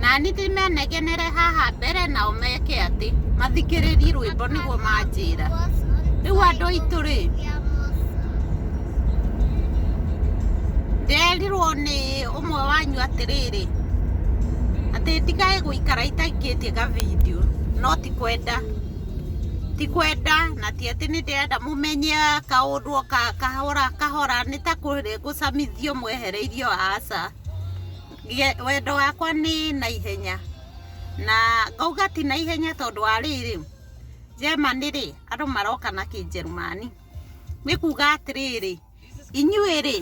nani ti menegenere haha mbere nao meke atĩ mathikĩrĩrie rwĩmbo nĩguo manjĩra rĩu andũ aitũ rĩ nderirwo nĩ ũmwe wanyu atĩrĩrĩ atĩ ndikae gũikara itaikĩtie ga video no ti kwenda ti kwenda na ti atĩ nĩ ndĩrenda mũmenye kaũndũ kahora kahora nĩ ta kũrĩa gũcamithio mwehereirio aca wendo wakwa nĩ na ihenya na ngauga ti na ihenya tondũ wa rĩrĩ, German rĩ andũ maroka na kĩnjerumani, nĩ kuga atĩrĩrĩ, inyuĩ rĩ,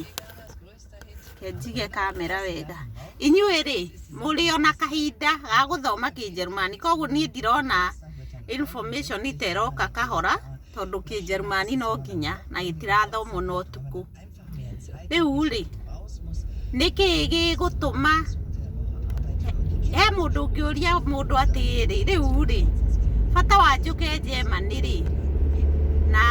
reke njige kamera wega, inyuĩ rĩ mũrĩ o na kahinda ga gũthoma kĩnjerumani kũguo niĩ ndirona information ta ĩroka kahora tondũ kĩnjerumani no nginya na gĩtirathomwo na ũtukũ. rĩu rĩ nĩkĩ gĩgũtũma he mũndũ ũngĩũria mũndũ atĩrĩ rĩu rĩ bata wa njũke Germany rĩ na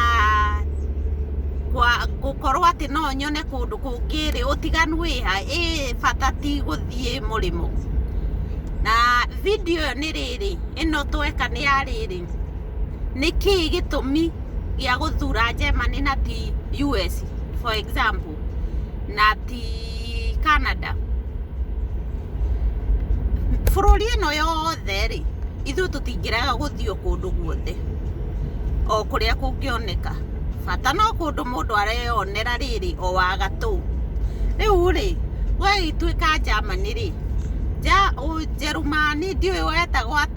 gwa- gũkorwo atĩ no nyone kũndũ kũngĩ rĩ ũtiganu wĩ ha ĩ bata ti gũthiĩ mũrĩmo na video ĩyo nĩ rĩrĩ ĩno tweka nĩ ya rĩrĩ nĩkĩ gĩtũmi gĩa gũthura Germany na ti US for example na ti Canada bũrũri ĩno yothe rĩ ithuĩ tũtingĩrega gũthiĩ o kũndũ guothe o kũrĩa kũngĩoneka bata no kũndũ mũndũ areyonera rĩrĩ o wa gatũ rĩu rĩ we ituĩka Germany rĩ Njerumani ndiũĩ wetagwo atĩa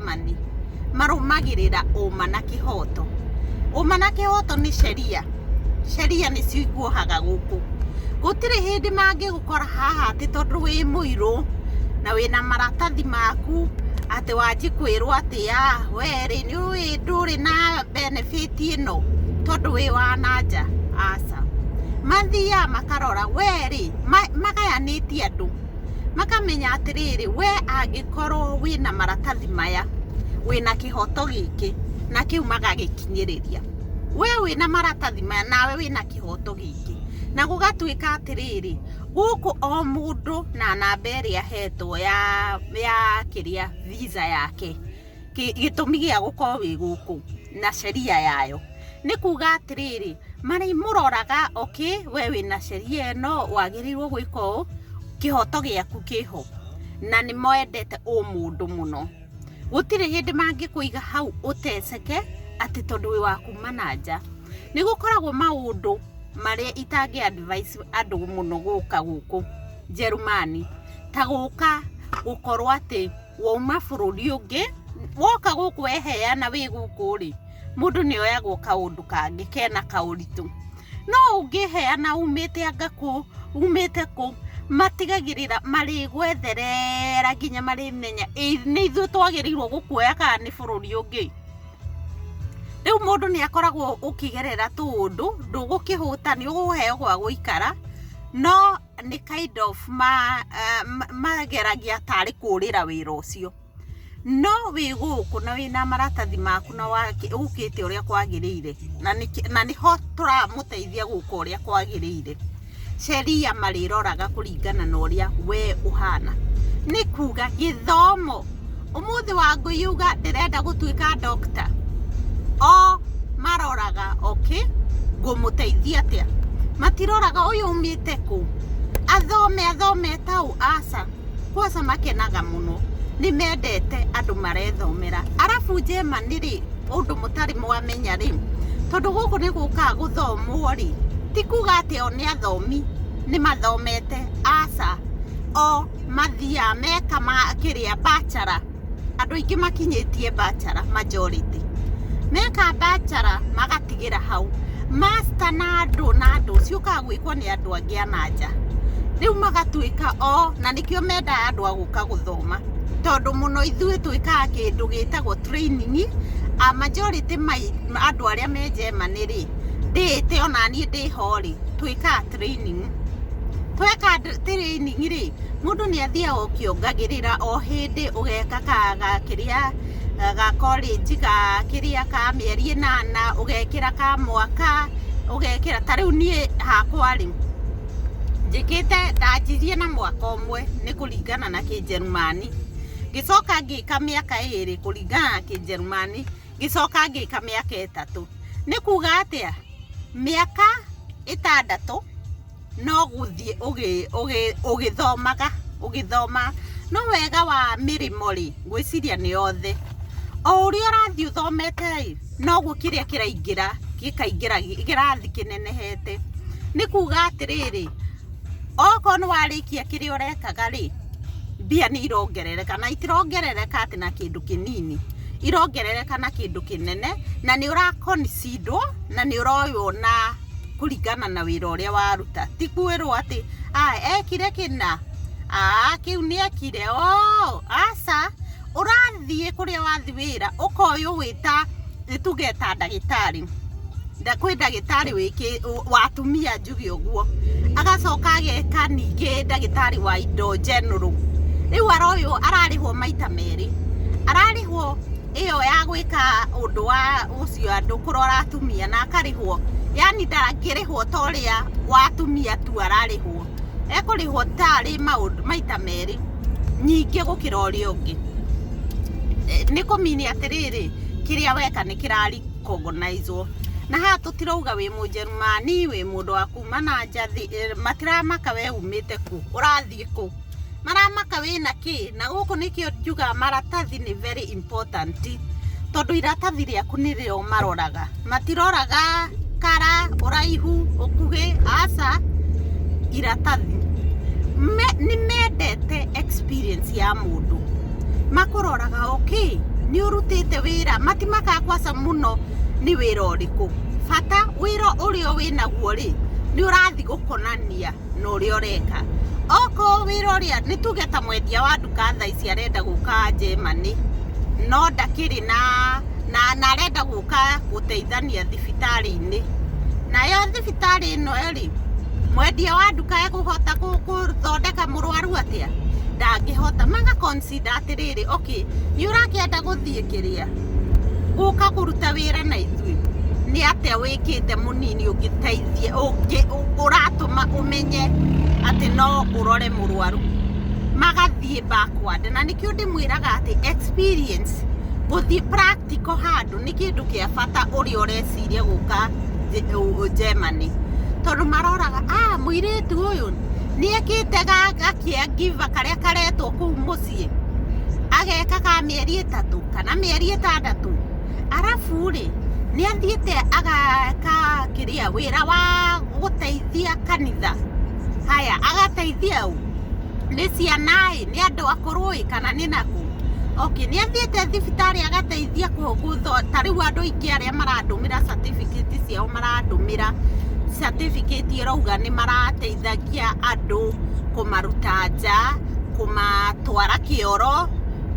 Germany marũmagĩrĩra ũma na kĩhoto. Ũma na kĩhoto nĩ sheria, sheria nĩcio ikuohaga gũkũ. Gũtirĩ hĩndĩ mangĩgũkora haha atĩ tondũ wĩ mũirũ na wĩna maratathi maku atĩ wanji kwĩrwo atĩ ya we rĩ nĩ ũĩ ndũrĩ na benefit ĩno tondũ wĩ wa na nja, aca. Mathiaga makarora we rĩ, magayanĩtie andũ. makamenya atĩrĩrĩ we angĩkorwo wĩna maratathi maya wĩna kĩhoto gĩkĩ na kĩu magagĩkinyĩrĩria we wĩna maratathi maya nawe wĩna kĩhoto gĩkĩ na gũgatuĩka atĩrĩrĩ gũkũ o mũndũ na namba ĩrĩa ahetwo ya ya kĩrĩa visa yake kĩ- gĩtũmi gĩa gũkorwo wĩ gũkũ na sheria yayo nĩ kuga atĩrĩrĩ marĩ mũroraga okay we wĩna sheria ĩno wagĩrĩirwo gwĩka ũũ kĩhoto gĩaku kĩho na nĩ moendete ũmũndũ mũno gũtirĩ hĩndĩ mangĩkũiga hau ũteceke atĩ tondũ wĩ wa kuma na nja nĩ gũkoragwo maũndũ marĩa itangĩ advise andũ mũno gũka gũkũ njerumani ta gũka gũkorwo atĩ wauma bũrũri ũngĩ woka gũkũ weheana wĩ gũkũ rĩ mũndũ nĩ oyagwo kaũndũ kangĩ kena kaũritũ no ũngĩheana umĩte anga kũ umĩte kũ matigagĩrĩra marĩgwetherera nginya marĩmenya "Ĩ- nĩ ithuĩ twagĩrĩirwo gũkuoya kana nĩ bũrũri ũngĩ rĩu mũndũ nĩ akoragwo ũkĩgerera tũũndũ ndũgũkĩhũta nĩ ũgũheo gwa gũikara no nĩ kind of ma, uh, ma- mageragia tarĩ kũrĩra wĩra ũcio no wĩ gũkũ na wĩ na maratathi maku na wake- ũkĩte ũrĩa kwagĩrĩire na nĩkĩ- na nĩho tũramũteithia gũka ũrĩa kwagĩrĩire sheria marĩroraga kũringana na ũrĩa we ũhana nĩ kuga gĩthomo Umuthi wa ngui yuga ndirenda gutuika doctor. O maroraga okay ngumuteithia atia? Matiroraga uyu umite ku? Athome athome tau aca. Kwaca makenaga muno. Ni mendete andu marethomera. Arafu njema ni ri undu mutari mwamenya ri tondu guku ni guka guthomwo ri ti kuga ati o ni athomi ni mathomete aca o mathiaga meka ma kĩrĩa bachelor andũ aingĩ makinyĩtie bachelor majority meka bachelor magatigĩra hau master na andũ na andũ ciũkaga gwĩkwo nĩ andũ angĩ a na nja rĩu magatuĩka o na nĩkĩo mendaga andũ a gũka gũthoma tondũ mũno ithuĩ twĩkaga kĩndũ gĩtagwo training a majority mai andũ arĩa me Germany rĩ ndĩĩte ona niĩ ndĩho rĩ twĩkaga training tweka training rĩ mũndũ nĩ athiaga ũkĩongagĩrĩra o hĩndĩ ũgeka ka ga kĩrĩa eh, ga college ga kĩrĩa ka mĩeri ĩnana ũgekĩra ka mwaka ũgekĩra ta rĩu niĩ hakwa rĩ njĩkĩte ndanjirie na mwaka ũmwe nĩ kũringana na kĩnjerumani ngĩcoka ngĩka mĩaka ĩrĩ kũringana na kĩnjerumani ngĩcoka ngĩka mĩaka ĩtatũ nĩ kuga atĩa Mĩaka ĩtandatũ no gũthiĩ ũgĩthomaga ũgĩthomaga, no wega wa mĩrĩmo rĩ, ngwĩciria nĩ yothe, o ũrĩa ũrathiĩ ũthomete rĩ, noguo kĩrĩa kĩraingĩra gĩkaingĩra kĩrathi kĩnenehete, nĩ kuga atĩrĩrĩ. okorwo nĩ warĩkia kĩrĩa ũrekaga rĩ, mbia nĩ irongerereka na itirongerereka atĩ na kĩndũ kĩnini, irongerereka na kĩndũ kĩnene, na nĩ ũra concede wo na nĩ ũroywo na kũringana na wĩra ũrĩa waruta. Ti kwĩrwo atĩ ekire kĩna, aa kĩu nĩ ekire, ooh aca. ũrathiĩ kũrĩa wathi wĩra ũkoyũ wĩta nĩtuge ta ndagĩtarĩ Nda- kwĩ ndagĩtarĩ wĩkĩ ũ- wa atumia njuge ũguo agacoka ageka ningĩ ndagĩtarĩ wa indo njenũrũ rĩu aroywo ararĩhwo maita merĩ ararĩhwo ĩyo ya gwĩka ũndũ wa ũcio andũ kũrora atumia na akarĩhwo yani ndangĩrĩhwo ta ũrĩa wa atumia tu ararĩhwo ekũrĩhwo tarĩ maũndũ maita merĩ nyingĩ gũkĩra ũrĩa ũngĩ, nĩ kũ mean atĩrĩrĩ, kĩrĩa weka nĩ kĩra recognize wo, na haha tũtirauga wĩ mũjerumani, wĩ mũndũ wa kuuma na nja, matiramaka we uumĩte kũ, ũrathiĩ kũ, maramaka wĩna kĩ, na gũkũ nĩkĩo njugaga maratathi nĩ very important, tondũ iratathi rĩaku nĩrĩo maroraga. matiroraga kara ũraihu ũkuhĩ aca iratathi Me, nĩ mendete experience ya mũndũ makũroraga okay nĩ ũrutĩte wĩra matimakaa kwaca mũno nĩ wĩra ũrĩkũ bata wĩra ũrĩa wĩnaguo rĩ nĩ ũrathiĩ gũkonania na ũrĩa ũreka okorwo wĩra ũrĩa nĩ tuge ta mwendia wa nduka thaa ici arenda gũka Germany no ndakĩrĩ na na na arenda gũka gũteithania thibitarĩ-inĩ nayo thibitarĩ ĩno rĩ mwendia wa nduka ekũhota gũthondeka mũrwaru atĩa ndangĩhota maga consider atĩrĩrĩ okay nĩ ũrakĩenda gũthiĩ kĩrĩa gũka kũruta wĩra na ithuĩ nĩ atĩa wĩkĩte mũnini ũngĩteithia ũngĩ- ũ- ũratũma ũmenye atĩ no ũrore mũrwaru magathiĩ backward na nĩkĩo ndĩmwĩraga atĩ experience gũthiĩ practical handũ nĩ kĩndũ kĩa bata ũrĩa ũreciria gũka Ge- ũ- ũ- Germany tondũ maroraga ah mũirĩtu ũyũ nĩekĩte ga- gakĩa ngiva karĩa karetwo kũu mũciĩ athomithĩtie ageka ka mĩeri ĩtatũ kana mĩeri ĩtandatũ arabu rĩ nĩ athiĩte agaka kĩrĩa wĩra wa gũteithia kanitha haya agateithia ũ nĩ ciana ĩ nĩ andũ akũrũ ĩ kana nĩ nakũ okay nĩ athiĩte thibitarĩ agateithia kũgũtho ta rĩu andũ aingĩ arĩa marandũmĩra certificate ciao marandũmĩra certificate ĩrauga nĩ marateithia kũrutithagia andũ, kũmaruta nja, kũmatwara kĩoro,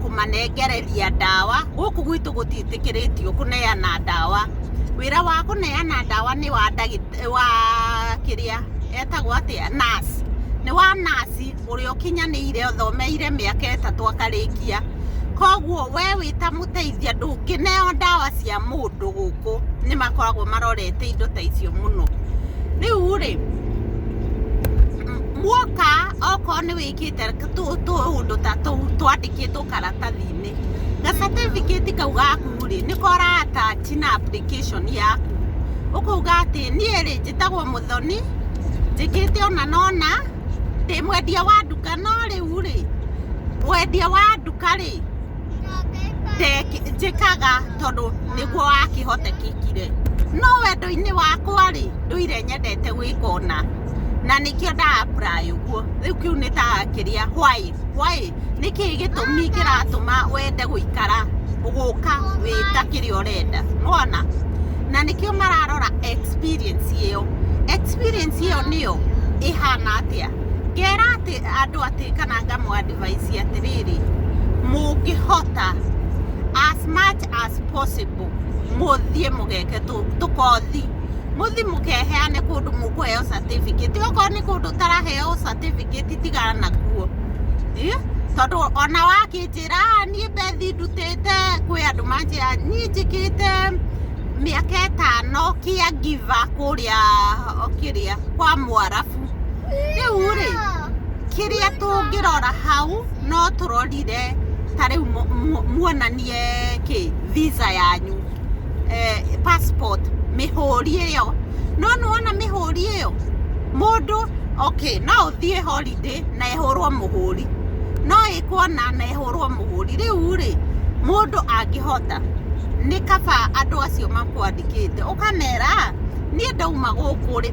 kũmanengereria ndawa, gũkũ gwitũ gũtiĩtĩkĩrĩtio kũneana ndawa, wĩra wa kũneana ndawa nĩ wa ndagĩtarĩ, wa kĩrĩa, etagwo atĩa, nurse, nĩ wa nurse ũrĩa ũkinyanĩire ũthomeire mĩaka ĩtatũ akarĩkia, koguo we wĩta mũteithia ndũngĩneo ndawa cia mũndũ gũkũ, nĩ makoragwo marorete indo ta icio mũno, rĩu rĩ. muoka okorwo nĩ wĩkĩte tũũndũ ta tũu twandĩkĩtwo karatathi-inĩ ga certificate kau gaku rĩ nĩko ũra attach na application yaku ũkauga atĩ niĩ rĩ njĩtagwo Mũthoni njĩkĩte ũna na ũna ndĩ mwendia wa nduka no rĩu rĩ wendia wa nduka rĩ njĩkaga tondũ nĩguo wakĩhotekekire no wendo-inĩ wakwa rĩ ndũire nyendete gwĩka ũna na nĩkĩo nda apply ũguo rĩu kĩu nĩ ta kĩrĩa why why nĩkĩ gĩtũmi kĩratũma wende gũikara gũka wĩta kĩrĩa ũrenda mwana na nĩkĩo mararora experience ĩyo experience ĩyo nĩyo ĩhana atĩa ngera atĩ andũ atĩ kana ngamwandĩ advice atĩrĩrĩ mũngĩhota as much as possible mũthiĩ mũgeke tũkothi mũthi mũkeheane kũndũ mũkũheo certificate okorwo nĩ kũndũ ũtaraheo certificate tigana nakuo tondũ ona wakĩnjĩra niĩ mbethi ndutĩte kwĩ andũ manjĩra niĩ njĩkĩte mĩaka ĩtano kĩa ngiva kũrĩa kĩrĩa kwa mwarabu rĩu rĩ kĩrĩa tũngĩrora hau no tũrorire ta rĩu muonanie kĩ visa yanyu eh, passport mĩhũri ĩyo no nĩwona mĩhũri ĩyo mũndũ okay no ũthiĩ holiday na ehũrwo mũhũri no ĩkuona na ehũrwo mũhũri rĩu rĩ mũndũ angĩhota nĩ kaba andũ acio makwandĩkĩte ũkamera niĩ ndauma gũkũ rĩ,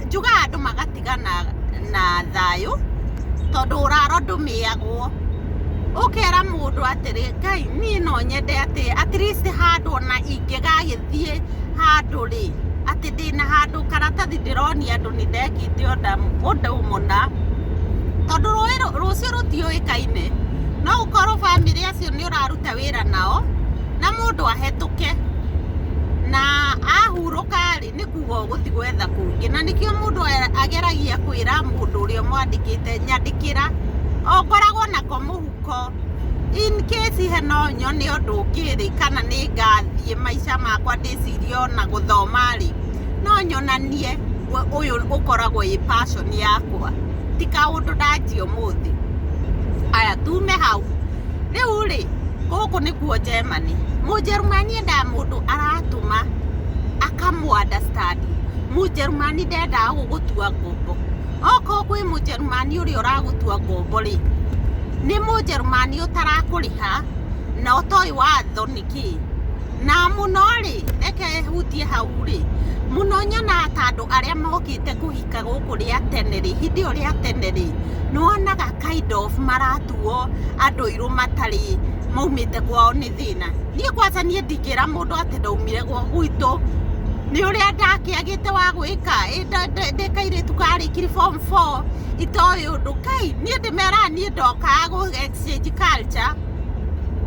njugaga andũ magatigana na thayũ, tondũ ũrara ũndũ mĩĩagwo. Ũkera mũndũ atĩrĩ, Ngai niĩ no nyende atĩ at least handũ ona ingĩgagĩthiĩ handũ rĩ, atĩ ndĩna handũ karatathi ndĩronia andũ nĩ ndekĩte ũndũ mũna. Tondũ rũĩ rũcio rũtiũĩkaine, no ũkorwo bamĩrĩ acio nĩ ũraruta wĩra nao, na mũndũ ahetũke na ahu... Kũhurũka-rĩ, nĩ kuuga o gũthiĩ gwetha kũngĩ. Na nĩkĩo mũndũ ageragia kwĩra mũndũ ũrĩa ũmwandĩkĩte, nyandĩkĩra, o ngoragwo nako mũhuko, in case he no nyone ũndũ ũngĩ-rĩ, kana nĩ ngathiĩ maica makwa ndĩcirie o na gũthoma-rĩ, no nyonanie ũyũ ũkoragwo wĩ passion yakwa, ti kaũndũ ndanjia ũmũthĩ. Haya, tuume hau. Rĩu rĩ, gũkũ nĩkuo Germany. Mũjerumani endaga mũndũ aratũma akamũ understand. Mũjerumani ndendaga gũgũtua ngombo. Okorwo kwĩ mũjerumani ũrĩa ũragũtua ngombo rĩ, nĩ mũjerumani ũtarakũrĩha na ũtoĩ watho nĩ kĩĩ. Na mũno rĩ, reke hutie hau rĩ, mũno nyonaga ta andũ arĩa mokĩte kũhika gũkũ rĩa tene rĩ, hĩndĩ ĩyo rĩa tene rĩ, nĩ wonaga kind of mara... matuo andũ irũ matarĩ maumĩte kwao nĩ thĩna niĩ kwanza niĩ ndingĩra mũndũ atĩ ndaumire gwa gwitũ nĩ ũrĩa ndakĩagĩte wa gwĩka ndĩkairĩtu karĩkiri form 4 itoĩ ũndũ kai niĩ ndĩmeraga niĩ ndokaga gũ exchange culture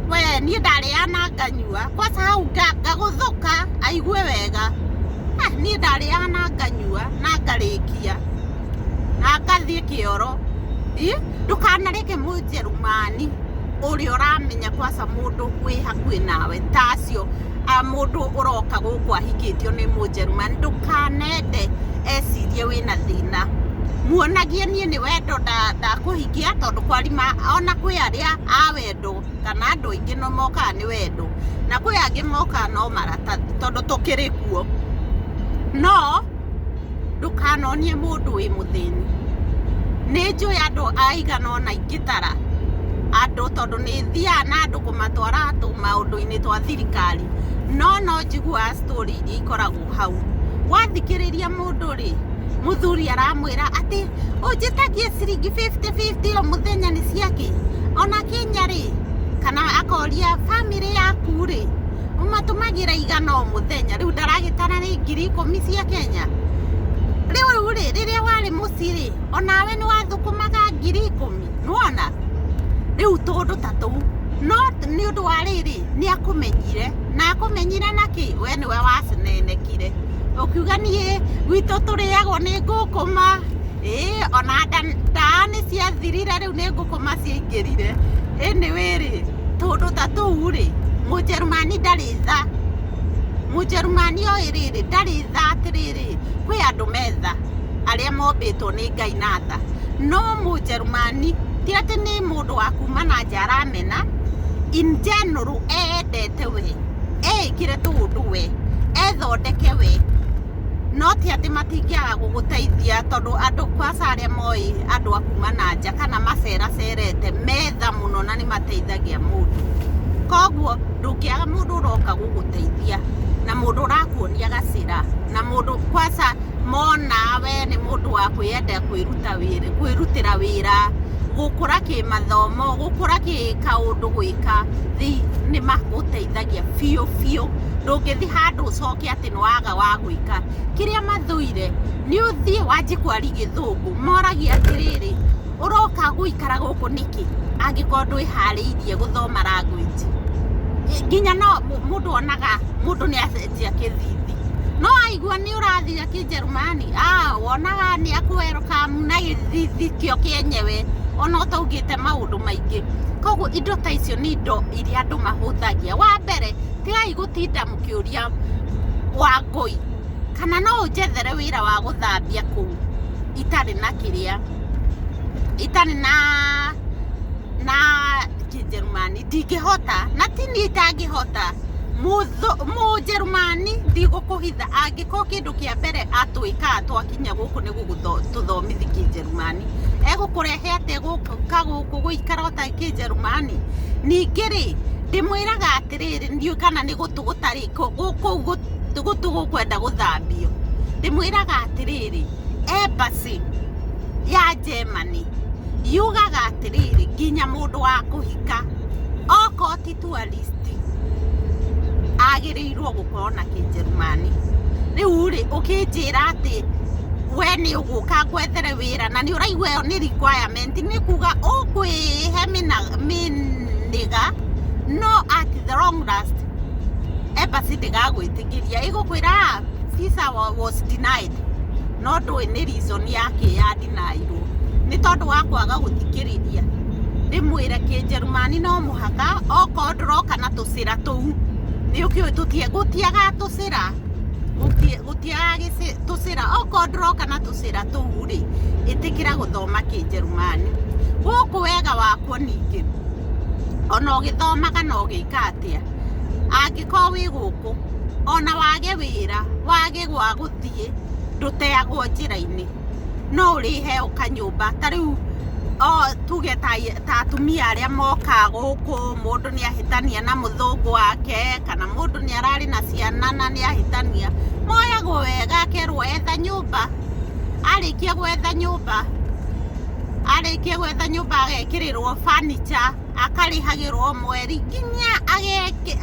we niĩ ndarĩaga na nganyua kwanza hau nga- ngagũthũka aigue wega Ah, niĩ ndarĩaga na nganyua na ngarĩkia na ngathiĩ kĩoro ĩ ndũkanareke mũnjerumani ũrĩa ũramenya kwaca mũndũ wĩ hakuhĩ nawe ta acio a mũndũ ũroka gũkũ ahikĩtio nĩ mũnjerumani ndũkanende ecirie wĩna thĩna muonagie niĩ nĩ wendo nda- ndakũhikia tondũ kwarima ona kwĩ arĩa a wendo kana andũ aingĩ no mokaga nĩ wendo na kwĩ angĩ mokaga no maratathi tondũ tũkĩrĩ kuo no ndũkanonie mũndũ wĩ mũthĩni nĩ njũĩ andũ aigana ona ingĩtara andũ tondũ nĩ thiaga na andũ kũmatwara tũ maũndũ-inĩ twa thirikari no no njiguaga story iria ikoragwo hau wathikĩrĩria mũndũ rĩ mũthuri aramwĩra atĩ ũnjĩtagie ciringi 50-50 o mũthenya nĩ ciakĩ ona kinya rĩ kana akoria bamĩrĩ yaku rĩ ũmatũmagĩra igana o mũthenya rĩu ndaragĩtara rĩ ngiri ikũmi cia kenya rĩu rĩ rĩrĩa warĩ mũci rĩ onawe nĩ wathũkũmaga ngiri ikũmi nĩwona rĩu tũndũ ta tũu no nĩ ũndũ wa rĩrĩ nĩ akũmenyire na akũmenyire na kĩ we nĩwe wacinenekire ũkiuga niĩ gwitũ tũrĩagwo nĩ ngũkũma ĩĩ ona nda- ndaa nĩ ciathirire rĩu nĩ ngũkũma ciaingĩrire ĩnĩ wĩrĩ tũndũ ta tũu rĩ, mũjerumani ndarĩ tha, mũjerumani oĩ rĩrĩ, ndarĩ tha atĩrĩrĩ, kwĩ andũ me tha, arĩa mombĩtwo nĩ Ngai na tha, no mũjerumani ti atĩ nĩ mũndũ wa kuma na nja aramena, in general eyendete we, eĩkĩre tũũndũ we, ethondeke we. no ti atĩ matingĩaga gũgũteithia tondũ andũ kwaca arĩa moĩ andũ a kuma na nja kana maceracerete metha mũno na nĩ mateithagia mũndũ koguo ndũngĩaga mũndũ ũroka gũgũteithia na mũndũ ũrakuonia gacĩra na mũndũ kwaca mona we nĩ mũndũ wa kwĩyenda kwĩruta wĩra kwĩrutĩra wĩra gũkũra kĩmathomo gũkũra kĩkaũndũ gwĩka thĩ nĩ magũteithagia biũ biũ ndũngĩthi handũ ũcoke atĩ atĩ nĩ waga wa gwĩka kĩrĩa mathũire nĩ ũthiĩ wanjie kwari gĩthũngũ moragia atĩrĩrĩ ũroka gũikara gũkũ nĩkĩ angĩkorwo ndwĩharĩirie gũthoma language nginya no mũ- mũndũ onaga mũndũ nĩ acenjia kĩthithi no aigua nĩ ũrathira kĩnjerumani ah, wonaga nĩ akũwerokamu na gĩthithi kĩo kĩenyewe ona ũtaugĩte maũndũ maingĩ koguo indo ta icio nĩ indo iria andũ mahũthagia wa mbere tigai gũtinda ũkĩũria wangũi kana no ũnjethere wĩra wa gũthambia kũu itarĩ na kĩrĩa itarĩ na na kĩnjerumani ndingĩhota na ti niĩ itangĩhota mũnjerumani ndigũkũhitha angĩkorwo kĩndũ kĩa mbere atwĩka twakinya gũkũ nĩ gũtũthomithi kĩnjerumani egũkũrehe atĩa gũka gũkũ gũikara ũtarĩ kĩnjerumani ningĩ rĩ ndĩmwĩraga atĩrĩrĩ ndiũ kana nĩ gũtũ gũtarĩ kũu gũtũ gũkwenda gũthambio ndĩmwĩraga atĩrĩrĩ embassy ya Germany yugaga atĩrĩrĩ nginya mũndũ wa kũhika okorwo ti tourist agĩrĩirwo gũkorwo na kĩnjerumani rĩu rĩ ũkĩnjĩra atĩ we nĩ ũgũka ngwethere wĩra na nĩ ũraigua ĩyo nĩ requirement nĩ kuga ũkwĩhe mĩnĩga no at the long last embassy ndĩgagwĩtĩkĩria ĩgũkwĩra "Ah, visa wa- was denied no ndũĩ nĩ reason yake ya deniirwo nĩ tondũ wa kwaga gũthikĩrĩria ndĩmwĩre kĩnjerumani no mũhaka okorwo ndũroka na tũcĩra tũu nĩ ũkĩũĩ tũtie gũtiaga tũcĩra gũti- gũtiaga gĩcĩ- tũcĩra okorwo ndũroka na tũcĩra tũu rĩ ĩtĩkĩra gũthoma kĩnjerumani gũkũ wega wakwo ningĩ ona ũgĩthomaga na ũgĩka atĩa angĩkorwo wĩ gũkũ ona wage wĩra wage gwa gũthiĩ ndũteagwo njĩra-inĩ no ũrĩhe ũkanyũmba ta rĩu tuge ta atumia arĩa moka gũkũ mũndũ nĩ ahĩtania na mũthũngũ wake kana mũndũ nĩ ararĩ na ciana na nĩ ahĩtania moyagwo wega akerwo etha nyũmba arĩkia gwetha nyũmba arĩkie gwetha nyũmba agekĩrĩrwo fanicha akarĩhagĩrwo mweri nginya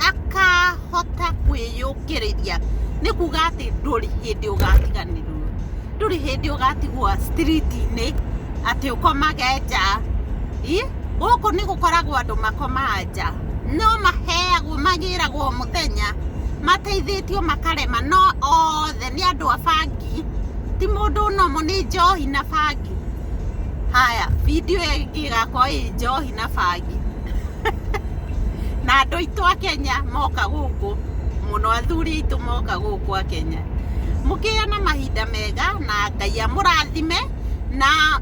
akahota kwĩyũkĩrĩria nĩ kuga atĩ ndũrĩ hĩndĩ ũgatiganĩrwo ndũrĩ hĩndĩ ũgatigwo street-inĩ atĩ ũkomage nja gũkũ nĩ gũkoragwo andũ makomaga nja no maheagwo magĩragwo mũthenya mateithĩtio makarema no othe nĩ andũ a bangi ti mũndũ ũnomũ nĩ njohi na bangi. bangi haya video ĩyo ĩngĩ ĩgakorwo ĩ njohi na bangi na andũ aitũ a kenya moka gũkũ mũno athuri aitũ moka gũkũ a kenya mũkĩgĩa na mahinda mega na ngai amũrathime na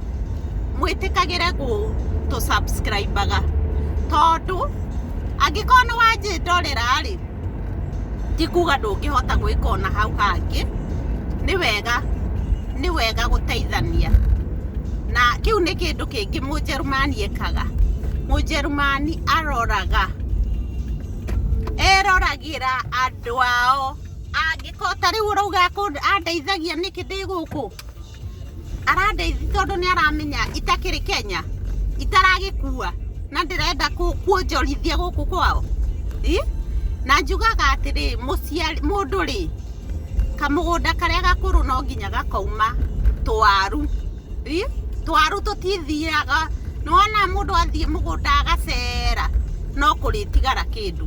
mwĩtĩkagĩre gũtũ subscribaga tondũ angĩkorwo nĩ wanjĩndorera rĩ ti kuga ndũngĩhota gwĩka ona hau hangĩ nĩ wega nĩ wega gũteithania na kĩu nĩ kĩndũ kĩngĩ mũnjerumani ekaga mũnjerumani aroraga eroragĩra andũ ao angĩkorwo ta rĩu ũrauga andeithagia nĩkĩ ndĩ gũkũ arandeithia tondũ nĩ aramenya itakĩrĩ kenya itaragĩkua na ndĩrenda kũ- kuonjorithia gũkũ kwao Ĩ? na njugaga atĩrĩ mũciari mũndũ rĩ kamũgũnda karĩa gakũrũ no nginya gakauma twaru Ĩ? twaru tũtithiaga nĩwona mũndũ athiĩ mũgũnda agacera no kũrĩtigara kĩndũ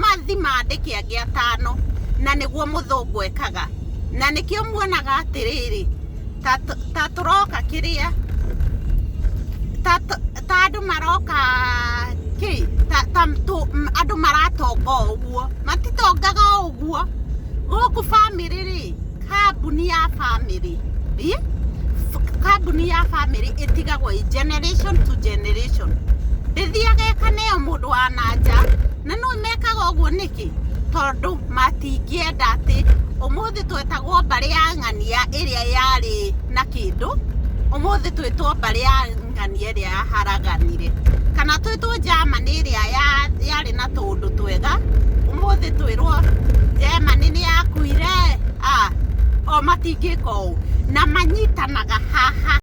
Mathi mandĩ kĩangĩ atano, na nĩguo mũthũngũ ekaga. Na nĩkĩo muonaga atĩrĩrĩ, ta tũ- ta tũroka kĩrĩa, ta tũ- ta andũ maroka kĩ, ta, ta tũ- m- andũ maratonga o ũguo. Matitongaga o ũguo. Gũkũ bamĩrĩ-rĩ, kambuni ya family Ĩ? F- kambuni ya family ĩtigagwo ĩ generation to generation ndĩthiaga ĩkaneyo mũndũ wa nanja na nĩ mekaga ũguo nĩkĩ tondũ matingĩenda atĩ ũmũthĩ twetagwo mbarĩ ya ng'ania ĩrĩa yarĩ na kĩndũ ũmũthĩ twĩtwo mbarĩ ya ngani ĩrĩa yaharaganire kana twĩtwo Germany ĩrĩa yarĩ na tũũndũ twega ũmũthĩ twĩrwo Germany nĩ yakuire o matingĩka ũũ na manyitanaga haha